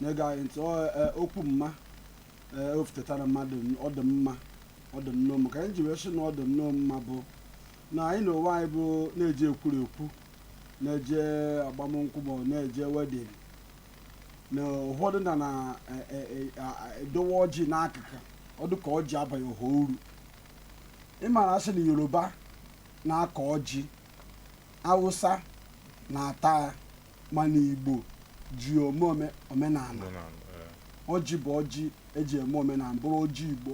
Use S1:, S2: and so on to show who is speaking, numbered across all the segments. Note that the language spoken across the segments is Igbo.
S1: na-ege anyị ntị ọ eh, okwu mma eh, o futetara mmadụ n- ọ dị mma ọ dị nnọọ mma ka anyị ji wee sị na ọ dị nnọọ mma bụ na anyị na onwe anyị bụ na-eje ekwuru ekwu na-eje agbamnkwụ ma ọ na-eje wedding na ụfọdụ na na eh, eh, eh, ah, ah, edowe ọjị n'akụkụ ọ dị ka ọjị abaghị ọha uru ị mara a sị na yoruba na-akọ ọjị awụsa na-ata ya mana igbo ji ome ome- omenala Omenala, eh. ọjị bụ ọjị eji eme omenala bụrụ ọjị igbo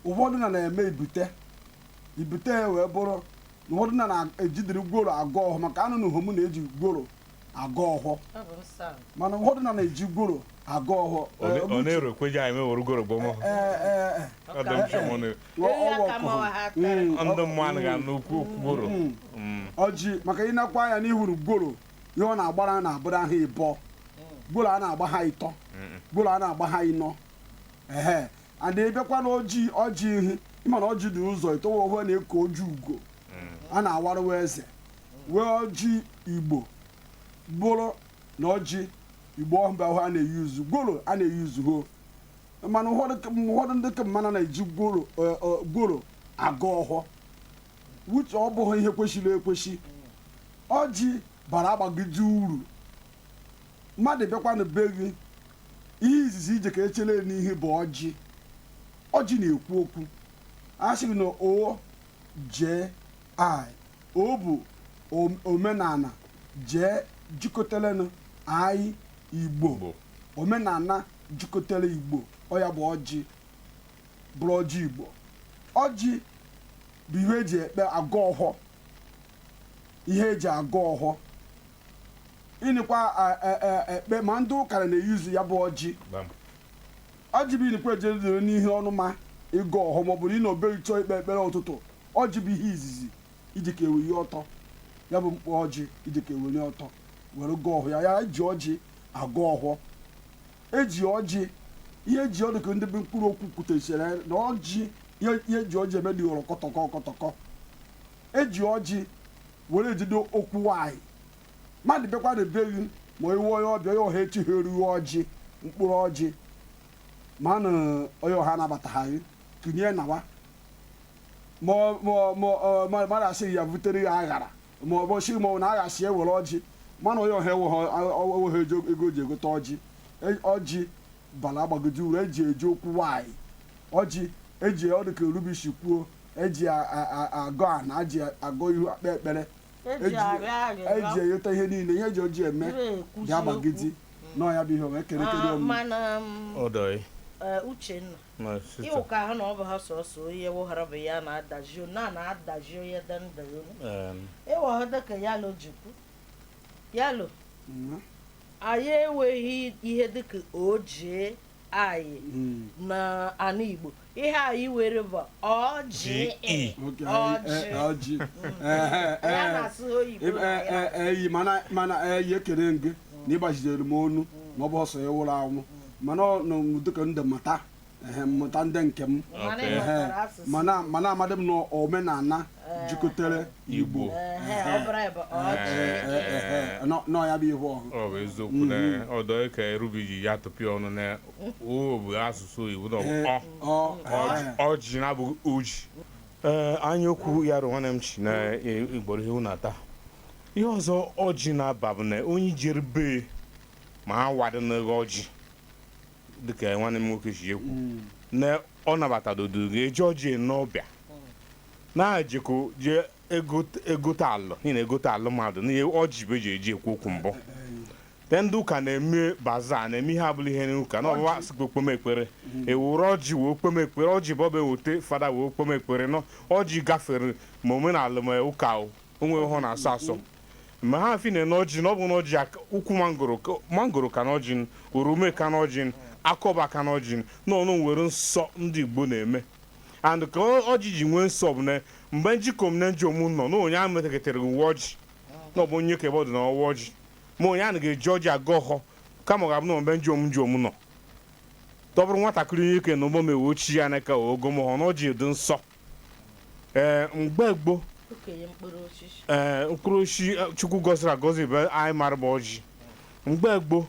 S1: ụfọdụ na na-eme ibute ibute ya wee bụrụ na ụfọdụ na na-ejidere gworo agọ ọhọ maka anụnụhọ mụ na eji gworo agọ ọhọ Ọ bụ nsọ. mana ụfọdụ na na-eji gworo agọ ọhọ Ọ na- ọ na-erokweji
S2: anyị mewere gworo gbọmọ Ee, ee, ee. Ọ dị m sure ma ọ na- ndị mmadụ ga n'okwu okwu gworo
S1: ọjị maka ịnakwa anya na ị hụrụ gworo ihe ọ na-agbara na-abụrụ ha ịbọ gworo a na-agba ha ịtọ gworo a na-agba ha ịnọ ehe and ịbịakwa na ọjị ọjị ihi ị ma na ọjị dị ụzọ ịtọ nwe ọhụ a na-eku ọjị ugo a na-awarụ nwa eze nwee ọjị igbo bụrụ na ọjị igbo ọhụrụ ahụ a na-euse gworo a na-euse ho mana ụfọdụ ka- ụfọdụ ndị ka mmanụ na-eji gworo eh, eh, gworo agọ ọhọ which ọ bụghị ihe kwesịrị ekwesị ọjị bara agbagide uru mmadụ bịakwa na be gị ihe izizi ije ka echere n'ihu bụ ọjị ọjị na-ekwu okwu a sịrị na O J I O bụ om- omenala J jikọtalenụ I igbo Igbo. omenala jikọtara Igbo ọ ya bụ ọjị bụrụ ọjị Igbo ọjị bụ ihe eji ekpe agọ ọhọ ihe eji agọ ọhọ ịnịkwa a- e- e- ekpe ma ndị ụka na na-euse ya bụ ọjị Bam. ọjị bụ ịnịkwa ejedere n'ihu ọnụ ma ịgọ ọhọ maọbụ na ị nọ be gị chọọ ikpe ekpere ụtụtụ ọjị bụ ihe izizi iji ka eweli ọtọ ya bụ mkpụrụ ọjị iji ka eweli ọtọ were gọọ ọhọ ya ya eji ọjị agọ ọhọ eji ọjị ihe eji ọ dị ka ndị bụ mkpụrụ okwu kwutechara na ọjị ihe ihe eji ọjị eme dị ghọrọ kọtọkọ kọtọkọ eji ọjị were ejide okwu nwanyị mmadụ bịakwa na be gị ma i nwe onye ọbịa onye ọha echeharụ gị ọjị mkpụrụ ọjị ma na onye ọha anabataghị tinye nawa ma ọ- ma ọ- ma ọ- ma mmadụ asịghị ya butere ya aghara ma ọ bụ si ma ọ bụ na agha si ewere ọjị mana onye ọha enweghị eji ego ji egote ọjị E- ọjị bala gbagidi uru eji eje okwu nwanyị ọjị eji ọ dịka erubishi kwuo eji a- a- a- agọ ana eji agọ ihu akpa ekpere eji arịọ eji arịrịọ ayọta ihe niile ihe eji ọjị eme jiri ekwusi ya gbagidi okwu. nọ ya bụ ihe o wee kere kere Ah, omume mana m, Odoi. eh,
S3: uchenna My sister. ịwụ ka ha na ọ bụ ha sọsọ onye wụghara bụ ya na-adaji na na-adaji onye dị ndụ ya unu Um, ịwụghara dịka yalo jikwu yalo Mma. anyị enweghị ihe dịka ọjị anyị Mm. na ana igbo ihe anyị nwere bụ ọjị G.E.. Okay, Ọjị. eh, ọjị. Eh, eh, ya eh. na-asụ oyibo Ebe- na eh, ya. eh, eh, eyi mana
S1: mana eh, ya ekele gị na ịgbaziere m ọnụ na ọ bụ ọsọ ya nwụrụ anwụ mana ọ nọ m dịka ndị mata ehe, mmụta ndị nke m Mana ị ehe, ghọtara asụsụ. mana mana amadị m na omenala jikọtara igbo Ehe, ọ bụrụ anyị bụ ọjị. Ehe, ehe, nọ- nọ ya bụ ihe ọhụ ọ bụ eziokwu na
S2: ọdọ ka erubi ji ya tụpịa ọnụ na o bụ asụsụ igbo na ọ bụ ọ ọ Ọ- ọjị na abụghị ọjị ee anya okwu ya rụ nwanne m chi na igboro ihe na ata ihe ọzọ ọjị na-aba bụ na onye jere be ma ha wadị n'eghe ọjị dịka nwanne m nwoke si ekwu mm. na ọ nabatadodo ga-eji ọjị n'ọbịa na-ejekọ jee egote alụ n'ihi na egote alụ mmadụ na ọjị bụ eji eji ekwu okwu mbụ te ndị ụka na-eme baza na-eme ihe ọbụla ihe n'ụka na ọbụwa sikwa kpome ekpere mm. eweru ọjị wee kpome ekpere ọjị bụ ọba ewete fada wee kpome ekpere na ọjị gafere ma omenala ma ụka o o nweha ọ na-asọ asọ mgbe ha fi na n'ọjị na ọ bụ n'ọjị ak- ukwu mangoro ka- mangoro ka n'ọjị orome ka n'ọjị akọba ka n'ọjị na ọ nwere nsọ ndị igbo na-eme and ka ọ- ọjị ji nwee nsọ bụ na mgbe njikom na njom nọ na onye ahụ metakịtara uwe ọjị na ọ bụ onye kebe ọdụ na-awa ọjị ma onye ahụ ga-eji ọjị agọ ọhọ kama ọ ga-abụ na mgbe njom njom nọ te ọ bụrụ nwatakịrị onyeke na ụgbọ m ewe ochie ya n'aka ọ gọma ọhọ na ọjị dị nsọ ee mgbe gboo okenye mkpụrụ osisi ee mkpụrụ osisi eh, chukwu gọziri agọzi bụ anyị mara bụ ọjị mgbe gboo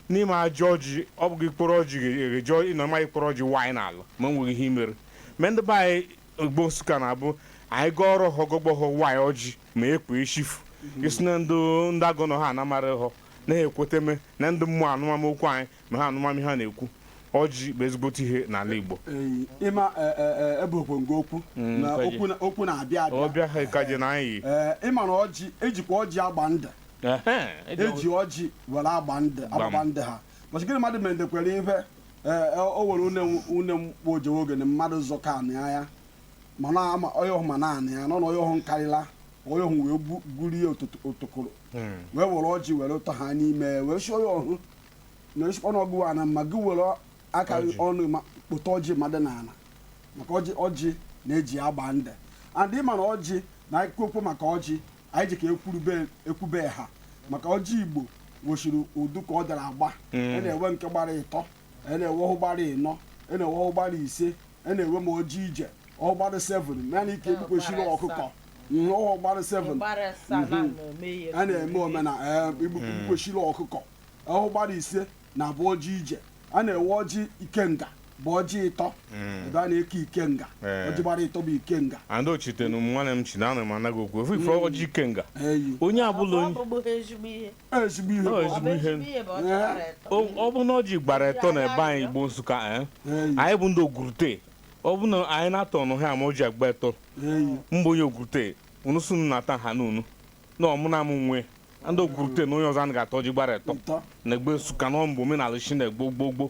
S2: n'ime ajọ ọjị ọ bụghị mkpụrụ ọjị ga-eji ịnọ ma mkpụrụ ọjị waanyị n'ala ma enweghị ihe i mere ma ndị be anyị igbo Nsụka na-abụ anyị gaa ọrụ họ gọgbọhọ waanyị ọjị ma ekwe echifu isi na ndị ndị agụ nọ ha anamara họ na-ekweteme na ndị mmụọ anụma okwu anyị ma ha anụma m ihe a na-ekwu ọjị bụ ezigbote ihe n'ala Igbo Ee, ịma
S1: ee, ee, ee, ebuokwe ngo okwu Mm, na kweje. okwu na- okwu na-abịa abịa ọbịa ha ka je na
S2: anyị Ee, ịma na ọjị
S1: e jikwa ọjị agba ndụ Ehe, e ji e ji ọjị were agba ndụ agbagba ndụ ha bọchị gịnị mmadụ mere ndekwere ihe ee, o were une m- une m kpọ ojewe oge na mmadụ zọka anị ya ma na ama onye ọhụ ma na anị ya nọ na onye ọhụ nkarịla onye ọhụ wee gbu- gburie otokoro Mm. wee were ọjị were tọ ha n'ime wee sị onye ọhụ na nsikpọ na ọgụ ana ma gị were aka gị Ọjị. ọnụ ma kpụta ọjị mmadụ n'ala maka ọjị ọjị a na-eji agba ndụ and ịma na ọjị na anyị kwu okwu maka ọjị anyị ji ka ekwurube ekwube ha maka ọjị Igbo nwechiri udu ka ọ dara agba a na-enwe nke gbara ịtọ a na-enwe ọhụ gbara ịnọ a na-enwe ọhụ gbara ise a na-enwe ma ọjị ije ọhụ gbara 7 mana ike egbukwesịrị ọkụkọ ọhụ gbara 7 a na-eme omenala igbukwesịrị ọkụkọ ọhụ gbara ise na-abụ ọjị ije a na-enwe ọjị ikenga bụ ọjị ịtọ ebe a na-eke ikenga Ee. ọjị gbara ịtọ bụ ikenga and ochitenu m
S2: nwanne m chi na ana m anaghị okwu ofe ife ọjị ikenga eyi onye abụla Ọ onye bụbụghị
S1: ezigbo ihe. ezigbo ihe Ọ bụ ezigbo ihe. Ezigbo
S2: ihe bụ ọ chọrọ etọ. ọ ọ bụ na ọjị gbara etọ na ebe anyị Igbo Nsụka eh? eyi anyị bụ ndị Ogurute ọ bụ na anyị na-ata ọnụ ha ma ọjị agba etọ eyi mgbe onye Ogurute unu sọ unu na-ata ha na unu na ụmụnna m nwe ndị Ogurute na onye ọzọ anaghị ata ọjị gbara etọ Ụtọ. na Igbo Nsụka na ọ bụ omenala shi na gboo gboo gboo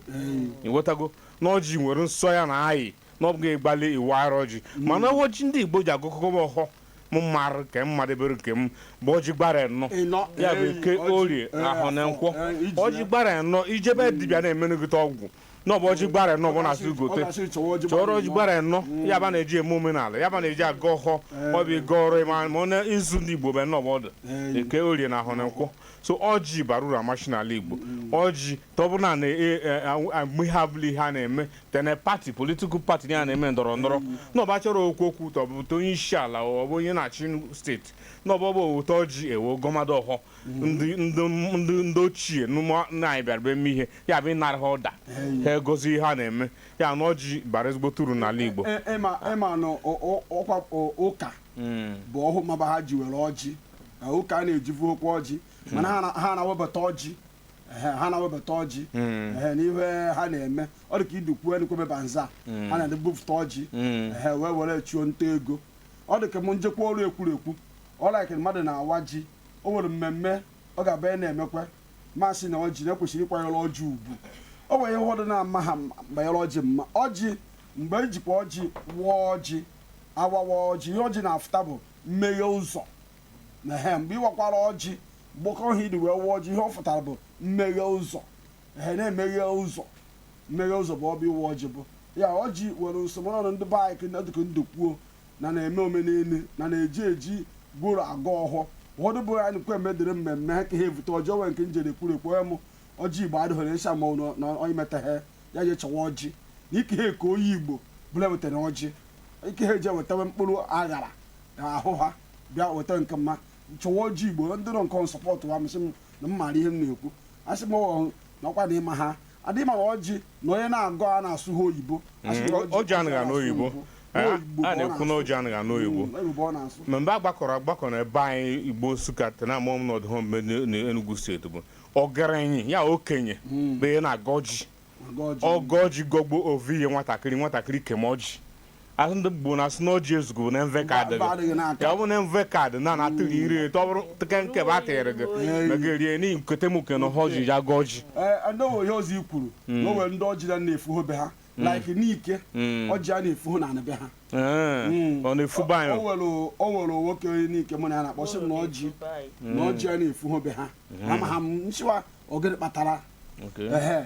S2: ịghọtago na ọjị nwere nsọ ya na ayị na ọ bụghị ịgbalị ịwara ọjị mana ọjị ndị Igbo ji agọkọba ọhọ m marụ nke m madebere nke m bụ ọjị gbara enọ Ịnọ. ya bụ Ee, eke ọjị. orie Ee, ahọ na nkwọ Ee, iji ọjị ya. gbara enọ ije be dibịa na-emenụgịta ọgwụ na ọ bụ ọjị gbara enọ bụ na-asị gote chọrọ ọjị gbara enọ mm. ya bụ a na-eji eme omenala ya bụ a na-eji agọ ọhọ eh. ọ bụ ịga ọrụ ịma ma ọ na izu ndị Igbo bụ enọ bụ ọ dụ eh. eke orie na ahọ na nkwọ so ọjị bara uru amachi n'ala Igbo mm. ọjị ọbụna na e, e, mgbe abụla ihe a na-eme tee na party political party ya na-eme ndọrọ ndọrọ mm. na ọ bụ a chọrọ okwu okwu tụpụta onye isi ala ọ bụ onye na-achị state na ọ bụ ebute ọjị e wee gọmado ọhọ ndị ndị ndị ndị ochie n'ụmụ nna anyị bịara be eme ihe ya bụ ịnara ha ọda ha agọzi ihe a na-eme ya na ọjị bara ezigbote uru n'ala Igbo E- e- ịma ịma na
S1: ọ- ọ- ọkwa ọ- ụka bụ ọhụ maba ha ji were ọjị na ụka a na-ejivuhọkwa ọjị mana ha na- ha na-awebata ọjị Ehe, ha na-awebata ọjị Ehe, n'ihe ha na-eme ọ dị ka idukwuo enukwebe bazaar ha na-ebupụta ọjị Ehe, wee were chụọ nta ego ọ dị ka m njekwa ọrụ ekwuru ekwu ọ like mmadụ na-awa ọjị o nwere mmemme ọ ga-abụ ya na-emekwa masị na ọjị na ekwesịrị ịkwanyere ọjị ugwu o nwere ihe ụfọdụ na-ama ha banyere ọjị mma ọjị mgbe ejikwa ọjị waa ọjị awawa ọjị ihe ọjị na-afụta bụ mmeghe ụzọ ehe mgbe ị wakwara ọjị gbakọ ha iri wee wụọ ọjị ihe ọ fụtara bụ mmeghe ụzọ ehe na-emeghe ụzọ mmeghe ụzọ bụ ọ bụ ịwa ọjị bụ ya ọjị were nsọ ma ọnọdụ ndị be anyị dịka ndụ kwuo na na-eme omenelu na na-eji ọjị gọrọ agọ ọhọ ụfọdụ bụ anyị nkwe medere mmemme ha ka ha evute ọjị wee nke njere kwuru ekwu onye mụ ọjị igbo adịghị na ịsha mmanwụ na- na onye metaghị ya je chọwa ọjị na ike ha eke onye igbo bụla wetara ọjị ike ha eje wetawe mkpụrụ aṅara na ahụ ha bịa weta nke mma chọwa ọjị igbo ndị nọ nke nsọpọtụ ha masị m na m maara ihe m na-ekwu asị m ọ nakwa na ịma ha adịghị ma ọjị na onye na-agọ a na-asụ ha oyibo A sị na ọjị
S2: anaghị anụ oyibo a Oyibo ka ọ na-ekwu na na-asụ. ọjị anaghị anụ oyibo Mm, oyibo ọ na-asụ ma mgbe a gbakọrọ agbakọ na ebe anyị igbo nsụka tena amụọ m n'ọdụ ha mgbe n'enugwu steeti bụ ọgaranya ya okenye bụ ya na-agọ ọjị ọ gọ ọjị gọgbo o vuye nwatakịrị nwatakịrị keme ọjị asị ndị Igbo na asị na ọjị ezugu bụ na mvọ eka adị Mbọ adịghị gị n'aka. ya ọ bụ na mvọ eka adị na na atụghị iri eto ọ bụrụ tụke nke bụ atịrị gị na gị rie n'ihi nkete m nke na ha ọjị ya gị ọjị ee ndị onwe ihe ọzọ i
S1: kwuru na o nwere ndị ọjị na na-efu ho be ha like Nike Mm. ọjị a na-efu ho na anị be ha Ee, Mm.
S2: ọ na-efuba o anyị nwere o nwere
S1: nwoke onye Nike mụ na ya na-akpa sị m na ọjị na ọjị a na-efu ho be ha ama ha m nchịwa ọ gịnị kpatara Okay. ehe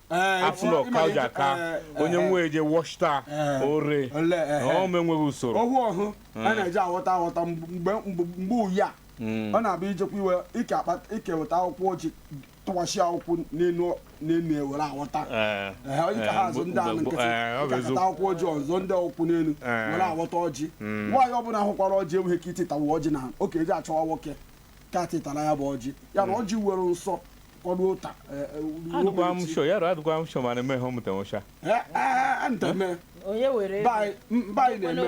S2: Eh, afụ na ọka ji aka eh, onye eh, nwe eje wọchita ore ọma enweghị usoro ọhụ ọhụ a
S1: hmm. na-eji aghọta aghọta mgbe uyi a hmm. ọ na-abụ ijekwa iwe ike weta akwụkwọ ọjị tụwachi akwụkwọ n'elu n'elu ewere aghọta onye ka ha azụ ndị anụ nkịtị ịkakọta akwụkwọ ọjị ọzọ ndị ọkwụ n'elu were aghọta ọjị hmm. nwaanyị ọbụla hụkwara ọjị enweghị ike ititawa ọjị na ọ ke eje chọwa nwoke ka titara ya bụ ọjị ya bụ ọjị were nsọ ọrụ ụta adụkwa m sho ya
S2: adụkwa m sho mana emeghe mụta nwụcha
S1: nteme onye were baị na-eme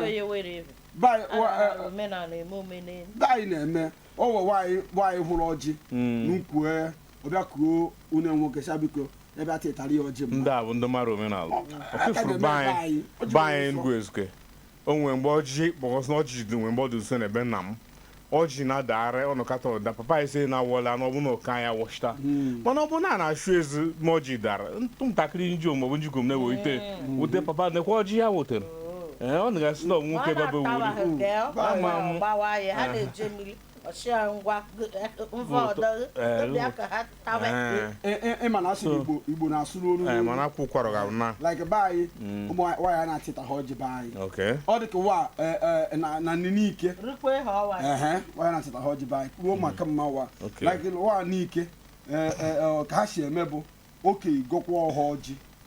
S1: baị na-eme ọwọ nwaanyị hụrụ ọjị hmm. n'ukwu e, ọ bịa kuo onye nwoke sha biko bịa titara ya ọjị m ndị a bụ ndị mara
S2: omenala ọfụfụrụ baị baị enugwu ezike O nwere mgbe ọjị kpọkọsị na ọjị dị nwere mgbe ọ dị nso n'ebe nna m ọjị na-adagharị ọ nọkata ọ da papa anyị sị na awọla na ọ bụ na ụka ya wọchita mana ọ bụ na a na-achụ ezi ma ọjị dara ntụ ntakịrị nji maọbụ nji gom na-ewete wute papa nekwa ọjị ya wetara ee ọ na-gasị na ọnwụ nwoke babe wuru Ama m. gbawa ya ha na-eje mmiri ọchịa ngwa
S1: mva ọdọ Eh, bịa ka ha Tawe. Eh, Ị- ị- ị ma na asụ So- igbo igbo na-asụ n'olu eh, n'olu. mana akwa ụkwara ga
S2: na like be anyị
S1: ụmụ nwaanyị- nwaanyị a na-achịta ha ọjị be anyị okay ọ dị ka wa eh, eh, na na na Nike Rukwe ha ọwa. ehe nwaanyị na-achịta ha ọjị be anyị ruo maka mma wa Okay. like wa Nike eh, eh, eh, ka ha si eme bụ oke ịgọkwa ọhọ ọjị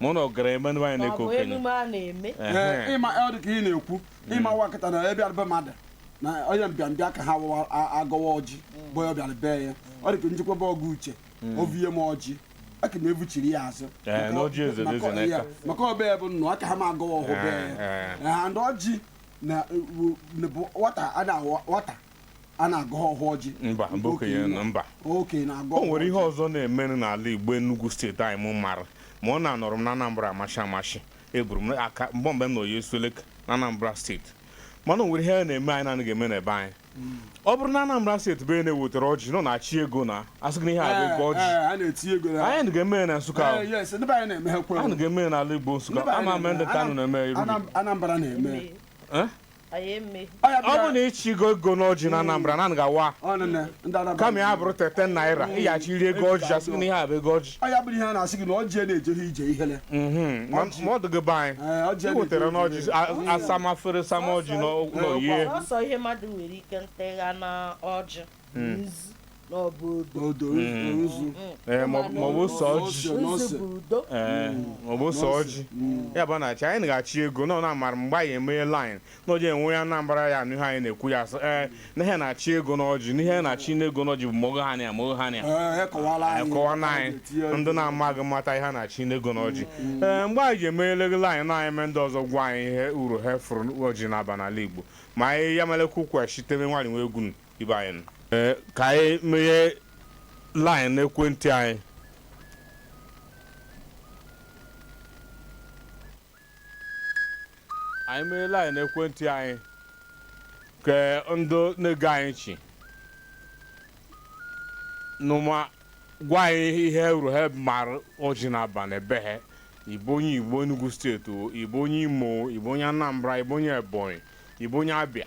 S2: ma ụnụ gara eme nwaanyị na-eke
S1: okenye ịma ọ dị ka ị na-ekwu hmm. ịma wa kata na onye bịarụ be mmadụ na onye mbịambịa ka ha agọwa ọjị hmm. bụ ya bịara be ya ọ dị ka m jekwa be Ọgụ Uche hmm. o vunye m ọjị aka m evuchiri ya azụ eh, maka ọbịa bụ nnụ aka ha ma agọwa ọhọ be ya eh, eh. na ọjị na bụ nwata a na-awọ nwata a na-agọ ọhọ ọjị mba mba okenye nọ mba
S2: okenye na-agọ o nwere ihe ọzọ na-emenụ n'ala igbo Enugu steeti anyị m mara ma ọ na anọrọ m na Anambra amashi amashi eburu m aka mgbe mgbe m na oyi esueleke na Anambra steeti mana o nwere ihe a na-eme anyị na-anaghị eme n'ebe anyị ọ bụrụ na Anambra steeti bụ na-ewetara ọjị nọ na-achị ego na asị gị na ihe a bụ ego ọjị anyị anaghị eme ya na Nsụka ahụ anyị anaghị eme ya n'ala Igbo Nsụka ama m ma ndị Nkanu na-eme iru Anambra na-eme ọ bụ na ịchịgo ego n'ọjị na Anambra na anaghị awa kama ya bụrụ ten ten naira ị ga-achịrịrị ego ọjị asị na ihe a bụ ego ọjị ọ ya bụrụ ihe a na-asị gị na
S1: ọjị na-ejeghị ije ihele mhm. ma
S2: ọ dịghị be anyị ị wetara n'ọjị asama afere sama ọjị nye maọbụ sọ ọjị maọbụ sọ ọjị ya bụ na-achị anyị na-achị ego na ọ na-amara mgbe anyị emeghe laịn na oji enwe onye Anambra ya n'ihe anyị na-ekwu ya sị ee na ihe na-achị ego n'ọjị na ihe na-achị n'ego n'ọjị bụ mogo ha na mogo ha na akọwaara anyị ndị na-amaghị mata ihe a na-achị n'ego n'ọjị ee mgbe anyị ji emegheleghị laịn na anyị mee ndị ọzọ gwa anyị ihe uru ha fụrụ ọjị na-aba n'ala Igbo ma anyị ya melekwu kwesịtere nwaanyị nwa egwu ibe anyị nọ. Ee, ka anyị meghe line n'ekwentị anyị anyị meghe line n'ekwentị anyị ka ndị na-ege anyị nchị nụ ma gwa anyị ihe uru ha mara ọjị na-aba na be ha ị bụ onye Igbo Enugu steeti o, ị bụ onye Imo o, ị bụ onye Anambra ị bụ onye Ebonyi ị bụ onye Abia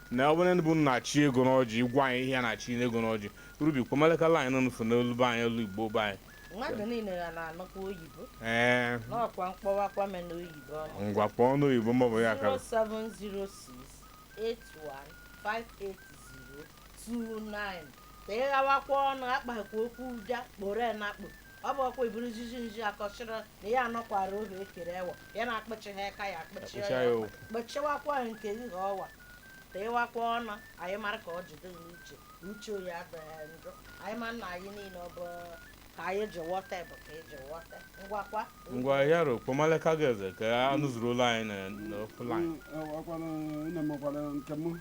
S2: na ọ bụrụ na be unu na-achị ego n'ọjị ị gwa anyị ihe a na-achị n'ego n'ọjị rubi kpamaleka laịn nụfụ n'olu be anyị olu igbo be anyị mmadụ niile ya
S3: na-anụkwa oyibo ee n'ọkwa m kpọwakwa me n'oyibo ọma ngwa kpọọ
S2: n'oyibo maọbụ ya ka
S3: 07068158029 ka ị ghawakwa ọnụ akpakwa okwu ụja kporo ya na akpụ ọ bụ ọkwa iburu jiji nji akọchịrị na ya anọkwara ohu ekere ewa ya na-akpọchi ha aka ya akpọchie Akpọchie ya ya ọnụ. kpọchiwakwa nke gị ka ọwa teewakwa ọnụ anyị mara ka ọ jide gị n'uche uche oyi adịghị njọ anyị ma nna anyị niile ọ bụ ka anyị ji wọta bụ ka eji wọta ngwakwa ngwa ya ro
S2: kpomaleka gị eze ka anụ zuru ụlọ anyị na- n'ofu line ọkwanụ nne m
S1: gwara nke m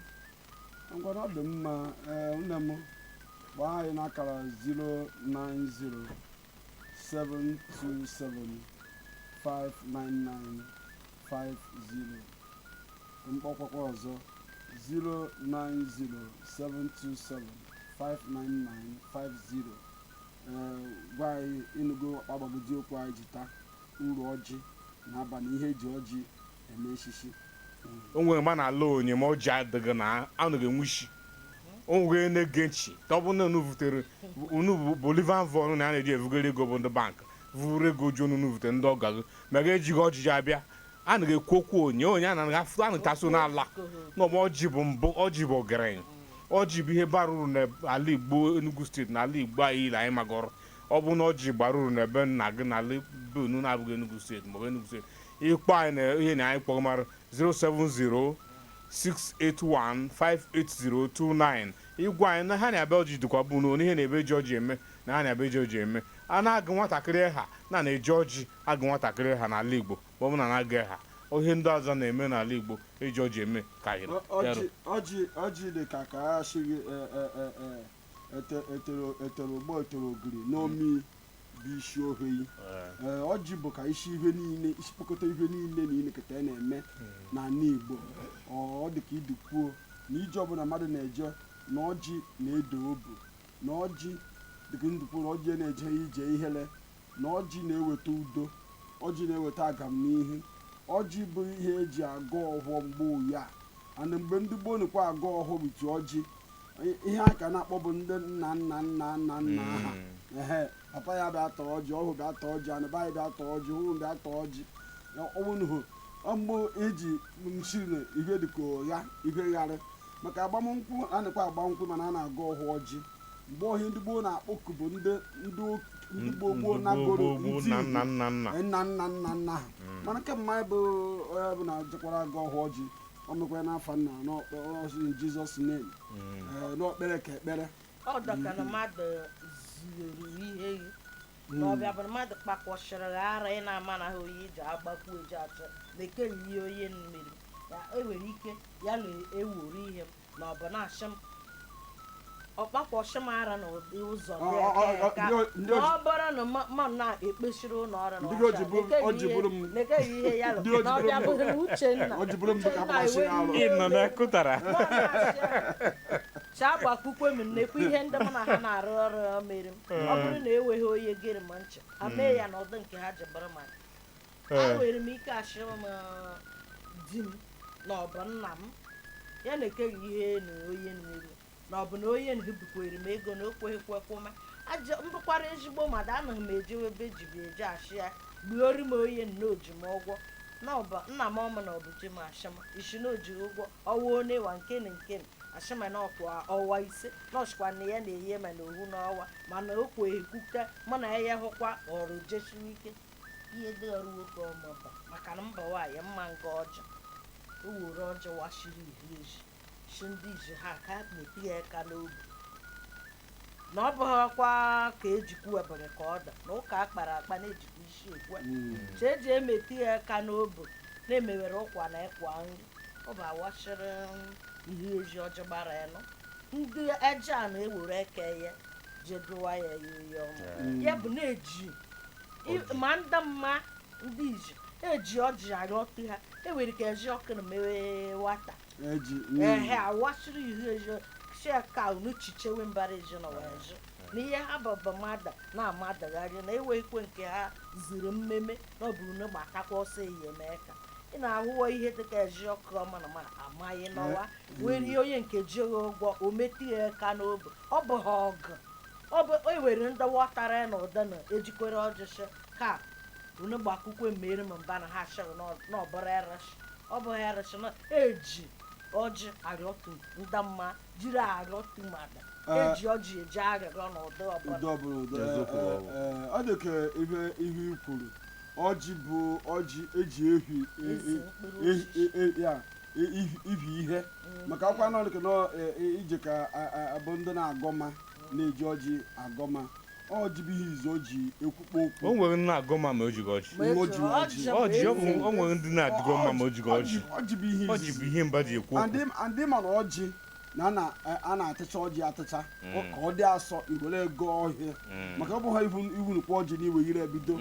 S1: ngwanụ ọ dị mma ee nne m gbaa anyị n'akara 09072759950 m kpọkwakwa ọzọ 09072759950 ee gwa anyị ị nụgo agbagodi okwu anyị ji taa uru ọjị na-aba na ihe eji ọjị o nwere
S2: ma na-alụ nwanyị ma ọjị adịghị na ọ naghị enwe isi o nwere na-ege nchi ka ọ bụ na unu vutere unu bullion van na a na-eji evugharị ego bụ ndị bank vuru ego ju ọnụ vutere ndị ọgọ gị ma gị ejighị ọjị abịa a na-ekwu okwu onye onye a na-aga afụta a na-etaso n'ala na ọma ọjị bụ mbụ ọjị bụ ọgaranya ọjị bụ ihe bara uru n'ala igbo enugu steeti na ala igbo anyị ile anyị magọrọ ọ bụ na ọjị bara uru n'ebe nna gị n'ala be unu na-abụghị enugu steeti maọbụ enugu steeti ị kpọọ anyị na ihe na anyị kpọrọ mara 07068158029 ị gwa anyị na ha na-abịa ọjị dịkwa bụ na ihe na-ebe ji ọjị eme na ha na-abịa eji ọjị eme a na-agụ nwatakịrị aha na a na-eji ọjị agụ nwatakịrị aha n'ala igbo ma ọ bụ na a na-agụ aha ihe ndị ọzọ na-eme n'ala igbo eji ọjị eme ka anyị Ọ- ọjị bịarụ. ọjị
S1: ọjị dị ka ka a sịrị e- e- e- e- ete- etere etere ụgba etere ogiri n'omi bụ isi ohe ee ọjị bụ ka isi ihe niile isi kpokọta ihe niile na ilekọta ya na-eme n'ala Igbo ọ ọ dị ka idi kwuo na ije ọbụla mmadụ na-eje na ọjị na-edo obu na ọjị dịka ndụ kwuo na ọjị anaghị eje ije ihere na ọjị na-eweta udo ọjị na-eweta agamnihu ọjị bụ ihe eji agọ ọhọ mgbe ụya ana mgbe ndị gboo nụkwa agọ ọhọ with ọjị ihe ha ka na-akpọ bụ ndị nna nna nna nna nna ha hmm. ehe papa ya bịa taa ọjị ọhụ bịa taa ọjị anaba ya bịa taa ọjị hụrụ bịa taa ọjị ọnwụnụhụ mgbe eji nchiri ihe dịka ụgha ihe gharị maka agbamnkwụ a na-ekwe agbamnkwụ mana a na-agọ ọhọ ọjị mgbe ihe ndị gboo na-akpọku bụ ndị ndị ndị gboo gboo nagoro ndị nna nna nna nna ha hmm. mana nke mma bụ onye bụ na jekwara agọ ọhọ ọjị o mekwara n'afa nna n'ọkpara in Jesus name Eh, na o kpere ka ekpere ọ dịka na
S3: mmadụ zuru ihe gị na ọbịa bụ na mmadụ kpakwọchịrị gị ara ị na-ama na ha oyi ji agbakwu eji achọ na-ekenye ihe onye mmiri ya enwere ike ya na-ewuru ihe m na ọ bụ na-achị m ọkpakwọchị m ara na ụdị ụzọ Ọ- ọ- ọ- na-eke ka ndị o- ndị o- ọ bụrụ na ma- ma na-ekpechiri ụlọ ọrụ na Ndị o ji ọcha, bụrụ- o ji bụrụ m- nekeghị ihe- nekeghị ihe ya lụ. Ndị o ji Na ọ bịa bụrụ bụrụ m- Uchenna. o ji bụrụ m dịka Uchenna akpọchi ya alụ. ewere iwe. ịnọ na kụtara chaa gbakwukwe m nnekwu ihe ndị mụ na ha na-arụ ọrụ ya mere m ọ bụrụ na enweghị onye gere m ncha amee ya na ọdụ nke ha ji bụrụ ma Ee. enwere m ike ashị m di m na ọ bụ nna m ya nke ihe na onye n'iru na ọ bụ na onye bikwere m ego na o kweghị kwekwome m bụkwara ezigbo mmadụ anaghị m ejewe ebe ejibi eje achị ya gbuori m onye na o ji m ụgwọ nna m ọma na ọ bụ di m ashị m isi na o ji ụgwọ ọwa one wa nke na nke na ashị m na ọkwa ọwa ise na ọchịkwa na ya na-eye m na ohu n'ọwa mana o kweghị kwuka mụ na ya ya hụkwa ọrụ jesiwe ike ihe dịghara nwoke ọma ba maka na mba nwaanyị mma nga ọjị o were ọjị washiri ihu eji shi ndị iji ha ka na-eti ya aka n'obi na ọ bụghịkwa ka ejikwu webere ka ọ da na ụka a kpara akpa na-ejikwa isi ekwe eji emeti ya aka n'obi na-emewere ụkwa na ịkwa nri ọ bụ awashiri ihe eji ọjị gbara anọ ndị eje a na-ewere eke ya jedụwa ya ya ihe ọma ya bụ na-eji ma ndị mma ndị iji eji ọjị arịọtụ ha enwere ike eji ọkụ na mewe wata eji ehe awasịrị ihe eji shia ka unu chichewe mbara eji na wee jụ na ihe ha bụbu mmadụ na-amadagharị na enweghịkwe nke ha ziri mmemme na ọ bụ unu gbatakwa ọsọ enyemaka ị na-ahụwa ihe dịka eziokwu na ma amaghị n'ọwa were onye nke jighị ụgwọ o metụ ya aka n'obi ọ bụghị ọgụ o were ndị wọtara na ụda na ejikwere ọjị shị ka unu gbakwukwe mere ma mba na ha shịrị n'ọbụrụ erịshị ọ bụ erịshị na eji ọjị arịọtu ndị mma jiri arịọtu mmadụ Eh. eji ọjị eji arịrịọ na ụdị ọbụla ọ
S1: dị ka ihe i kwuru ọjị bụ ọjị eji ehi ibi ihe maka ọkwa nọ nke e, e, ije ka abụ ndị na-agọma na-eji ọjị agọma ọjị bụ ihe izu o ji ekwukpo okwu o nwere ndị na-agọma ma
S2: o jighị ọjị o nwere ndị na-adị agọma ma o jighị ọjị ọjị bụ ihe mba ji ekwu okwu and mana
S1: ọjị na e, a na-atịcha ọjị atịcha mm. ka ọ dị asọ iwere agọ ihe mm. maka ọ bụghị ịhụ nukwu ọjị na iwe ire ebido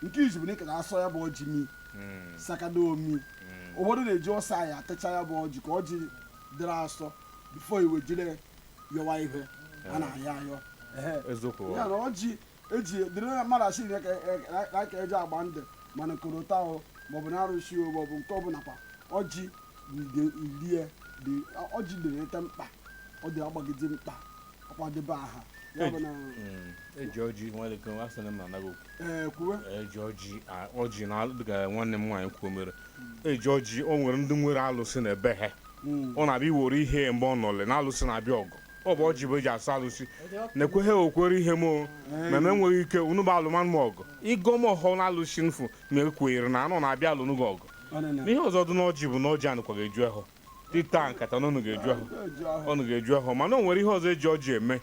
S1: nke izu bụ na ị ka na-asọ ya bụ ọjị mi hmm. sakada omi hmm. ụfọdụ na-eji ọsọ anyị atacha ya bụ ọjị ka ọjị dịrị asọ before e wee jiri yọwa ihe a eh. na-ayọ ayọ ya na ọjị eji dịrị mmadụ a sị na ka e ji agba ndụ mana korota ahụ maọbụ na arụsị maọbụ nke ọbụla kwa ọjị lie ọjị dịrị ete mkpa ọ dị agbagide mkpa akwadebe aha ya bụ na Mm, eji
S2: ọjị nwere ike asị na m anaghị okwu ee kwuwe eji
S1: ọjị
S2: a- ọjị na alụ dịka nwanne m nwaanyị kwuo mere eji ọjị o nwere ndị nwere alụsị na ebe ha Mm. ọ na-abịa iwere ihe mgbe ọ nọle na alụsị na-abịa ọgụ ọ bụ ọjị bụ e ji asụ alụsị na-ekweghị okwere ihe m o ma m enweghị ike unu bụ alụmanụ m ọgụ ịgọ m ọhọ na alụsị nfu na ekwenyere na anọ na-abịa alụnụ gị ọgụ Ọ na-ene. n'ihe ọzọ dị n'ọjị bụ na ọjị anụkwaghị eju ahọ ị ta nkata na ọ nụghị eju ahọ ọ nụghị eju ahọ mana o nwere ihe ọzọ e ji ọjị eme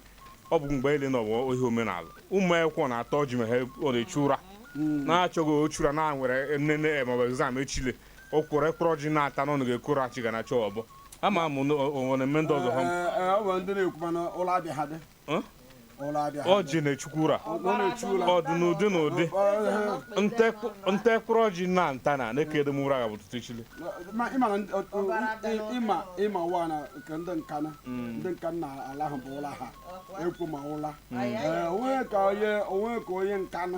S2: ọ bụ mgbe ile na ọ bụ ihe omenala ụmụ akwụkwọ na-ata ọjị ma ha ọ na-achụ ụra na-achọghị ịchụ ụra na nwere nnene maọbụ exam echile o kwere kpụrụ ọjị na-ata na unu ga-ekoro achị ga na-achọ ọbọ ama m na o nwere mme ndị ọzọ ha Ee, ee, ọ bụ ndị na-ekwu mana ụlọ abịa ha dị ọjị na-achụkwa ụra ọ dị n'ụdị na ụdị nte kpụrụ ọjị na nta na na-eke edem ụra ga bụ ụtụtụ echile
S1: ị mawa na nke ndị Nkanụ hmm. ndị Nkanụ ala ahụ bụ ụla ha ekwu ma ụla hmm. onwe ka onye Nkanụ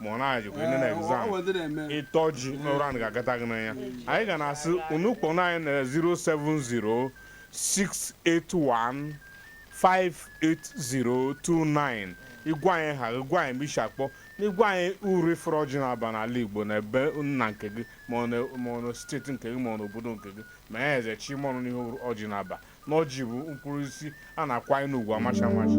S2: ma ọ na-ajụkwa ịnụ na exam ị ta ọjị n'ụra anaghị agata gị n'anya anyị ga na-asị unu kpọọnụ anyị na 07068158029 ị gwa anyị aha gị gwa anyị ebe i si akpọ na ị gwa anyị uru ị fụrụ ọjị na-aba n'ala Igbo na ebe nna nke gị ma ọ na- ma ọ na state nke gị ma ọ na obodo nke gị ma ya eze chi ma ọnụ n'ihe ọjị na-aba na ọjị bụ mkpụrụ osisi a na-akwanye n'ugwu amachi amachi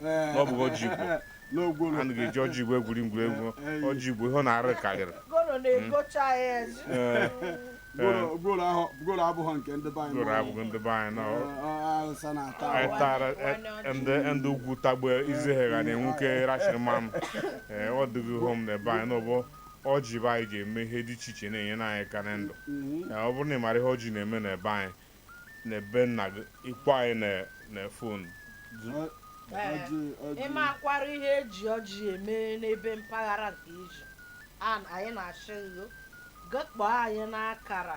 S2: na ọ bụghị ọjị Igbo na gworo a na-eji ọjị Igbo egwuri egwu ọjị Igbo ihe ọ na-arụ karịrị gworo na-egocha
S3: ya ezi. Ee, gworo gworo ahụ
S1: gworo abụghị nke ndị be anyị gworo abụghị ndị be anyị na
S2: ọ- Awụsa
S1: na-ata anyị ahụ.
S2: tara e- ndị ndị ugwu tagbu eze ha ga na-enwu ka e rachiri mmanụ ee ọ dịghị hom na ebe anyị n'ọbụ ọjị bụ anyị ji eme ihe dị iche iche na-enyere anyị aka na ndụ Mhm. Ee, ọ bụrụ na ị mara ihe ọjị na-eme na ebe anyị n'ebe nna gị ịkpọ anyị na
S3: fon ịmakwara ihe eji ọjị eme n'ebe mpaghara nke i si anyị na-asị gị ga kpọọ anyị n'akara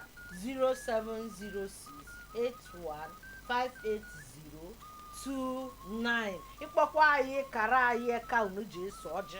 S3: 07068158029 ịkpọkwa anyị kara anyị ka unu ji eso ọjị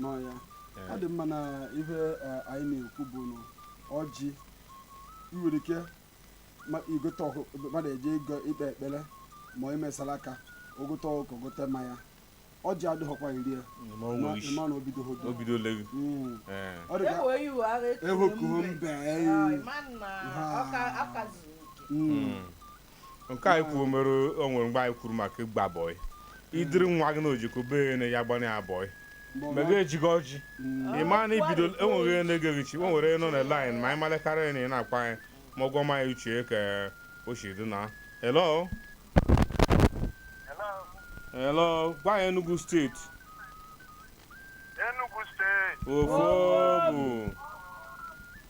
S2: n'ọya eh. ọ dị mma na ihe eh, anyị na-ekwu bụ na ọjị nwere ike igote ọkụ mmadụ eje ịgo ikpe ekpere ma onye mesara aka o gote ọkụ gote mmanya ọjị adịghọkwa iri ya ịma na obido obido lewu hmm. eh. ọ dị ka ehokuho mbe hmm. nke anyị kwuo mere o nwere mgbe anyị kwuru maka ịgba bọị i duru nwa gị na ojiko bee na ya gbanye ya bọị mega ejigo ọjị ị ma na ibido enweghị ihe na-egeghị chi o nwere nọ na laịn ma anyị malekarịa na ị na-akwa anyị ma ụgwọ ma anyị uche ka o si dị na hello hello gwa anyị Enugu steeti Enugu steeti ofu bụ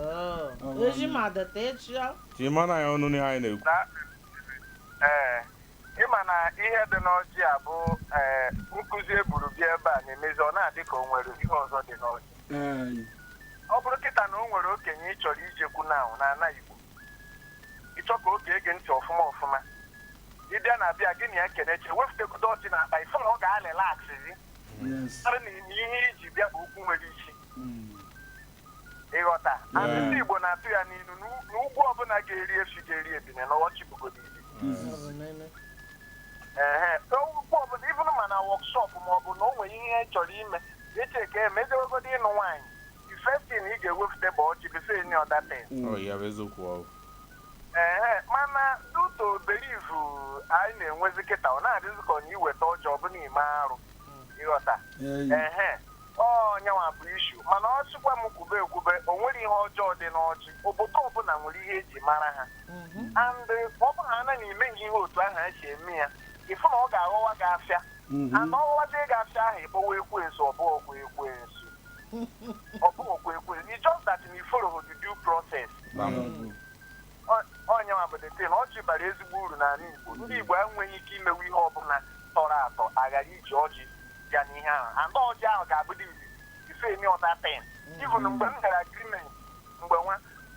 S3: Oo, Eji m adịta echi ya. Ka ị mara ya
S2: ọnụ n'ihe anyị na-ekwu. na
S4: ee ịma na ihe dị n'ọjị a bụ ee nkụzi e buru bịa ebe a na-emezi ọ na-adị ka o nwere ihe ọzọ dị n'ọjị Ee, ọ bụrụ kịta na o nwere okenye ị chọrọ ijekwu na ahụ na ana igbo ịchọ ka o gee gị ntị ọfụma ọfụma ịbịa na abịa gị na ya keneche wefutegodo ọjị n'akpa ifụ na ọ ga-alịlaksịzi yes. mara na ihe iji bịa bụ okwu nwere isi ịghọta Anyị ndị Igbo na-atụ ya n'ilu na u- na ugwu ọbụla ga-eri efi ga-eri ebine na ọjị bụgodo ibi ehe so ugwu ọbụla even ma na wọkshọp ma ọ bụ na o nwere ihe ị chọrọ ime eche ka emejewegodo ịnụ nwaanyị first thing ị ga-ewefute bụ ọjị before any other thing Ọ ya bụ eziokwu ọ. ehe mana due to belief anyị na-enwezi kịta ọ na-adịzi ka ọ na iweta ọjị ọ bụ na ime arụ ịghọta ehe ọ nyanwa bụ ishu mana ọ sịkwa m kwube ekwube o nwere ihe ọjọọ dị n'ọjị obodo ọbụla nwere ihe eji mara ha and ọ bụrụ na anaghị eme ihe ihe otu ahụ esi eme ya ịfụ na ọ ga-aghọwa gị afịa and ọ ghọwazie gị afịa ahụ ịkpọwa ekwensu ọ bụghị ekwensu ọ bụghị ekwensu it's just that na ifologhị the due process ọ nyanwa bụ the thing ọjị bara ezigbo uru n'ala Igbo ndị Igbo enweghị ike imewe ihe ọbụla tọrọ atọ aghara iji ọjị bịa n'ihe ahụ and ọjị ahụ ga-abụdị before any other thing even mm. mgbe m gara agrimenti mgbe nwa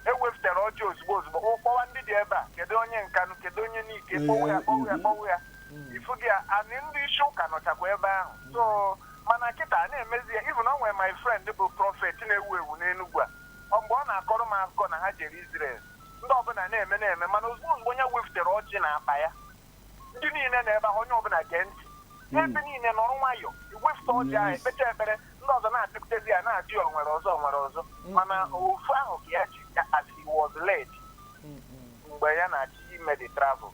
S4: ewepụtara ọjị ozugbo ozugbo kpọwa ndị dị ebe a kedu onye Nkanu kedu onye Nike kpọwa ya kpọwa ya kpọwa ya mm. ifugo na ndị isi ụka nọchakwa ebe ahụ so mana kịta na-emezi ya even o nwere my friend bụ prọfet na-ewu ewu n'Enugwu a Ọ mgbe ọ na-akọrọ m akụkọ na ha jere Israel, ndị ọbụla na-eme na-eme, mana ozugbo ozugbo ya weftere ọjị na akpa ya, ndị niile na ebe ahụ onye ọbụla gee ntị. Ebe niile nọrọ nwayọọ, ewefute ọjị ahụ, ekpecha ekpere, ndị ọzọ na-abịakutezi ya na-ajụ ya onwere ọzọ onwere ọzọ. Mana ofu ahụ ka ya ji as he was led mgbe ya na-achọ ime the travel.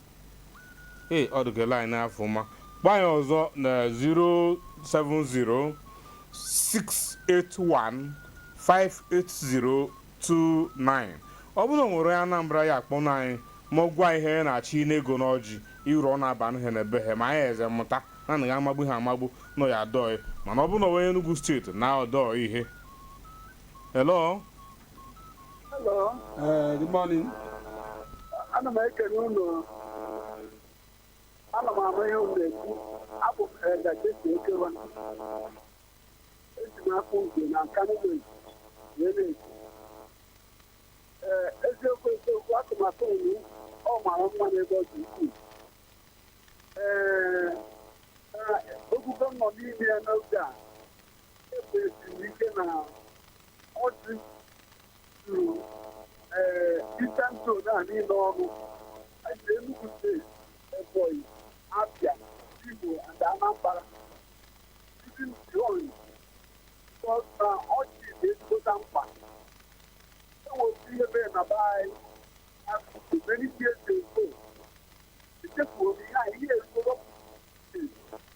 S2: ee ọ dịka line afọ ma kpọọ anyị ọzọ na 070-681-58029 ọ bụrụ na e nwere onye Anambra ya akpọ na anyị ma gwa ihe ya na-achịnye ego na ọjị uru ọ na-aba nhe na be ha ma anyị eze mụta na anaghị amagbu ihe amagbu nọ ya adọghị mana ọ bụrụ na onye Enugu steeti na ọdọ ihe hello
S1: Eh, good
S5: morning. ana m ekele unu ana m ama ihe unu na-ekwu abụ m Elder J.C. Ekewa esi m Akpugo na Nkanu wee na-ekwu ee eziokwu eziokwu atụmatụ unu ọ mara mma n'ebe ọ dị ukwuu ee okwu unu nọ n'ime ya n'oge a E kwesiri ike na ọjị zuru ee Eastern Zone a niile ọnụ. Anyị ji Enugu steeti, Ebonyi, Abia, Imo and Anambra. Even beyond because na ọjị dị ezigbote mkpa. E nwere ihe mere na be anyị so so many years ago. Echefuo m ihe a ihe ezigbo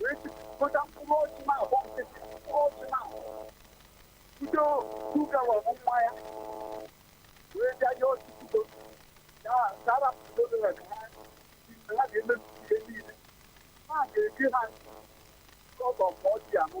S5: wee jikọta mkpụrụ ọjị na agba nkịtị mkpụrụ ọjị na bido kuka wee bụ nwa ya wee bịa ya ọjị kudo ya sara kudo na ka ha ha ga-emebi ihe niile ha ga-eji ha kọtọ ka ọjị anụ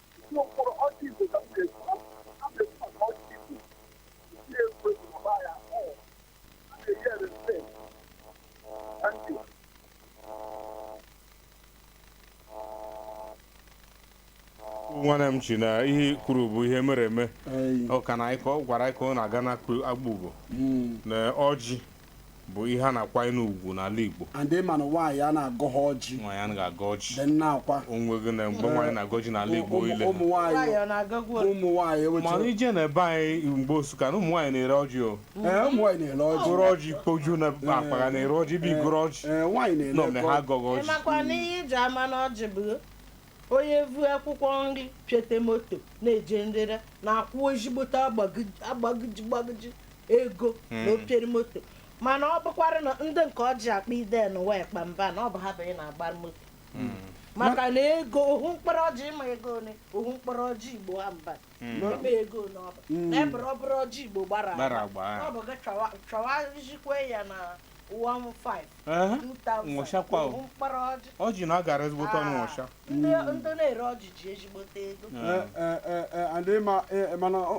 S2: nwanne m chi na ihe i kwuru bụ ihe mere eme ọ ka na ị kọwara anyị ka ọ na-aga na Akpugo na ọjị bụ ihe a na-akwanyere ugwu n'ala Igbo and ị ma na nwaanyị
S1: a na-agọghọ ọjị nwaanyị anaghị agọ ọjị
S2: dị nna akwa onweghị
S1: na mgbe nwaanyị
S2: na-agọ ọjị n'ala Igbo Ụmụ- ile ụmụ nwaanyị nwaanyị ọ
S1: na-agagwu ole? ụmụ nwaanyị mana ewechara i jee
S2: na be anyị n'ogbe Nsukka na ụmụ nwaanyị na-ere ọjị o ee ụmụ nwaanyị na-ere
S1: ọjị goro ọjị kpoju
S2: na akpa ga na-ere ọjị bụ i goro ọjị ee nwaanyị na-ere nọ mgbe ha
S1: ego. agọghị ọjị ịmakwa
S2: na ihe iji
S3: ama na ọjị bụ onye vu akwụkwọ nri pịote moto na-eje nrere na-akwụ ezigbote agbagiji- agbagiji gbagiji ego na opiere moto mana ọ bụkwara na ndị nke ọjị akpa ide na wee kpa mba na ọ bụ ha bụ ị na-agba moto maka na ego ohu mkpụrụ ọjị ị ma ego ole ohu mkpụrụ ọjị igbo ha mba na ị ma ego ole ọ bụ na ebere ọ bụrụ ọjị igbo gbara agba. ọ bụ gị chọwa- chọwazikwe ya na ọjị na-agara
S2: ezigbote ọnụ nwụcha
S3: ndị na-ere ọjị ji ezigbote
S1: ego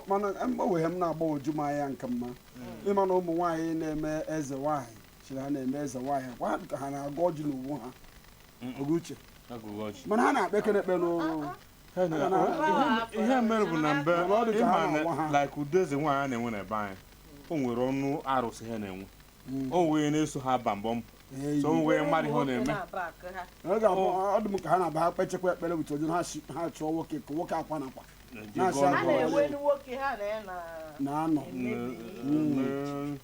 S1: mana mgbanwe m na-agbagwoju m anya nke mma ị ma na ụmụ nwaanyị na-eme eze nwaanyị chiri ha na-eme eze nwaanyị kwa ka ha na-agọ ọjị n'onwe ha oge uche mana ha na-ekpe ekpere ekpe n'ụlọ
S2: ihe mere bụ na mbe ị ma na like ụdị eze nwaanyị a na-enwe na be anyị o nwere ọnụ arụsị ha na-enwe hmm. o nwee na-eso ha ba mbọ mbọ so o nwee onye mara ihe ọ
S1: na-eme ọ dị m ka ha na-aba ha kpechekwa ekpere with ọjị ha chọọ nwoke ka nwoke akwa na akwa na-anọ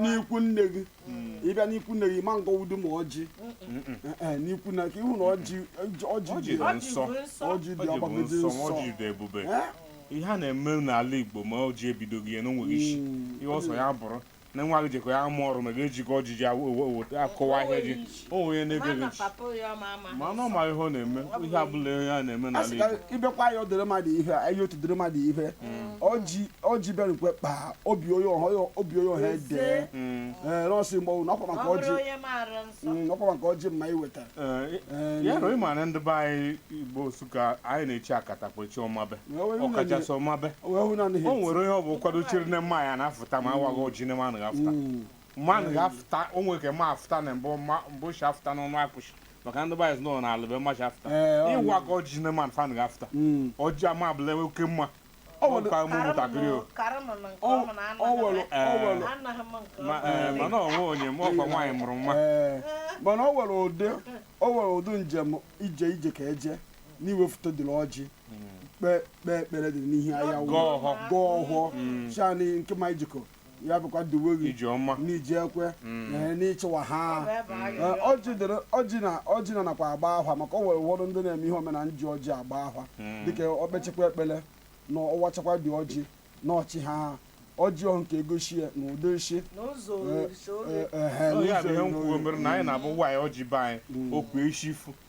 S1: n'ikwu nne gị hmm. ị bịa n'ikwu nne gị ma ngọ udu ma ọjị eh, eh, n'ikwu na ka ị hụ na ọjị dị nsọ ọjị
S2: dị agbagide nsọ ọjị dị ebube eh? ihe a na-eme n'ala Igbo ma ọjị ebidoghị ya na o nweghị isi hmm. ihe ọ sọ ya bụrụ na nwa gị jekọ ya amụ ọrụ ma ga-ejikọ ọjị ji akọwa ahịa gị o nwere onye na-ege gị Mama ntị papa ya ọ ma ama. ma anụ ma ihe ọ na-eme ihe abụla ihe a na-eme a n'ala sị ka Igbo ị bịakwa ịyọdụrụ
S1: mmadụ ihe a ịyọtụdụrụ mmadụ ihe ọjị ọjị bịara mgbe kpaa obi onye ọhụ ya obi onye ọhụ edee Mm, ee nọọsụ mgbe ọwụ na ọkwa Ọ maka bụrụ ọjị onye maara nsọ. Mm, ọkwa maka ọjị mma iweta eh, Ee, ya
S2: na ị ma na ndị be anyị Igbo Nsụka anyị na-echi akatakpa chi ọmabe Wee wee ọkachasị ọmabe wee hụ na o n'ihe nwere onye ọ bụkwadụ chiri na mma ya na-afụta ma awaghị ọjị na mma anaghị afụta Mm. mma anaghị afụta o nwere ka mma afụta na mbụ ma mbụ shi afụta n'ọnụ arụshị maka ndị be anyị sị nọ n'ala be mma shi afụta Ee, ọ awaghị ọjị na mma anaghị afụta Mm. ọjị ama abụla enwe oke mma Ọ nwere- ka ụmụ ntakịrị o Ọ- ọ nwere- ọ nwere- Ma- ee, mana onwe onye ma ọkwa nwaanyị mụrụ nwa Ee, mana
S1: o nwere ụdị o nwere ụdị njem ije ije ka eje na i wefụtadịrị ọjị kpee kpee ekpere dị n'ihu anyanwụ Gọọ ọhọ. gọọ ọhọ shani nke ma ị jekọ ya bụkwa duwe gị ije ọma n'iji ekwe Mm. ee, n'ịchịwa ha Ọ bụ ebe anyị Ee, rịọ. ọjị dịrị ọjị na ọjị na nakwa agba ahwa maka o nwere ụfọdụ ndị na-eme ihe omenala ji ọjị agba ahwa Mm. dịka o kpechekwa ekpele na ọ wachakwa dị ọjị na ọ chịhaa ọjị ọhụ nke egoshi ya na ụdị nshi n'ụzọ Ee, orisa ee, oge ehe, Ọ ya
S2: bụ ihe n'ụzọ m kwuo iri. mere na anyị na-abụ nwaanyị ọjị be anyị okwu echifu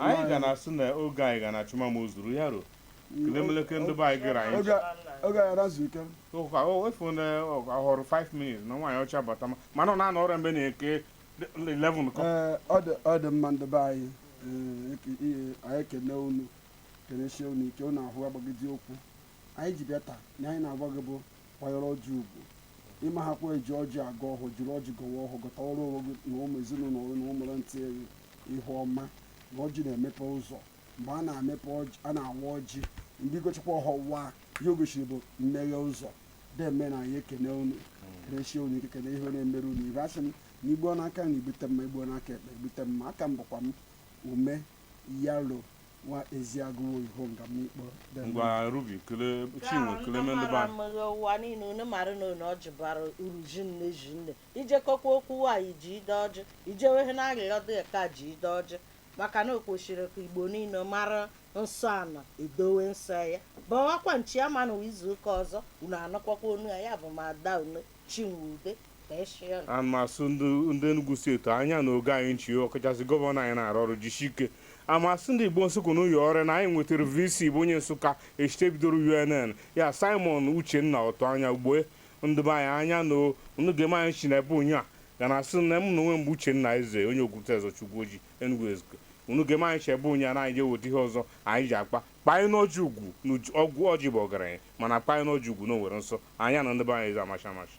S1: anyị
S2: ga na-asị na oge anyị ga na-achụ ma o zuru ya ruo kelemeleke ndị be anyị geere anyị oge anyị razu
S1: ike ụka o efu na
S2: ọ họrọ 5 minutes na nwaanyị ọcha bata ma unu na-anụ ọrịa mgbe nke 11 kụọ ọ dị
S1: mma ndị be anyị anyị ekene unu kenesie unu ike unu ahụ agbagide okwu anyị ji bịa taa na anyị na-agwa gị bụ kwanyere ọjị ugwu ịma ha kwa eji ọjị agọ ọhọ jiri ọjị gọwa ọhọ gọtara onwe gị na ụmụ ezinụlọ gị na ụmụrụ ntị gị ihe ọma na ọjị na-emepe ụzọ mgbe a na-emepe ọjị a na-awa ọjị ndị gọchakwa ọhọ waa ihe o gosiri bụ mmeghe ụzọ deme nụ anyị ekene unu kenesie unu ike kene ihe na-emere unu ibe asị m na i gbuo n'aka nri i gbute mma i gbuo n'aka ekpe i gbute mma a ka m bụkwa m ume yalo nwa eziagụwo ihonga m ikpọ ngwa
S2: rubi kele chinwe kele mendụba mara ụwa niile unu
S3: mara na unu ọjị bara uru zinne zinne i jekọkwa okwu nwaanyị jide ọjị i jewehe na arịrịọ dị ka jide ọjị maka na o kwesịrị ka igbo niile mara nsọ a na-edowe nsọ ya bawakwa nchi ama na izu ụka ọzọ unu anụkwakwa onu ya ya bụ m ada unu chinwe ude
S2: ana m asị ndị Enugu steeti anya na unu ge anyị nchị ọkachasị gọvanọ anyị na-arụ ọrụ jisi ike ana m asị ndị Igbo Nsụka na ụyọ ọrịa na anyị nwetara VC bụ onye Nsụka e shite bidoro UNN ya Simon Uchenna Ortuanya ugbu a ndị be anyị anya na unu gema anyị nchị na ebe onye a ga na asị na m na onwe m bụ Uchenna Eze onye Okwute Ezochukwu Oji Enugu Ezike unu gema anyị nchị ebe onye a na anyị ga-eweta ihe ọzọ anyị ji akpa kwanyenụ ọjị ugwu na ọgwụ ọjị bụ ọgaranya mana kwanyenụ ọjị ugwu na o nwere nsọ anya na ndị be anyị eze amacha amacha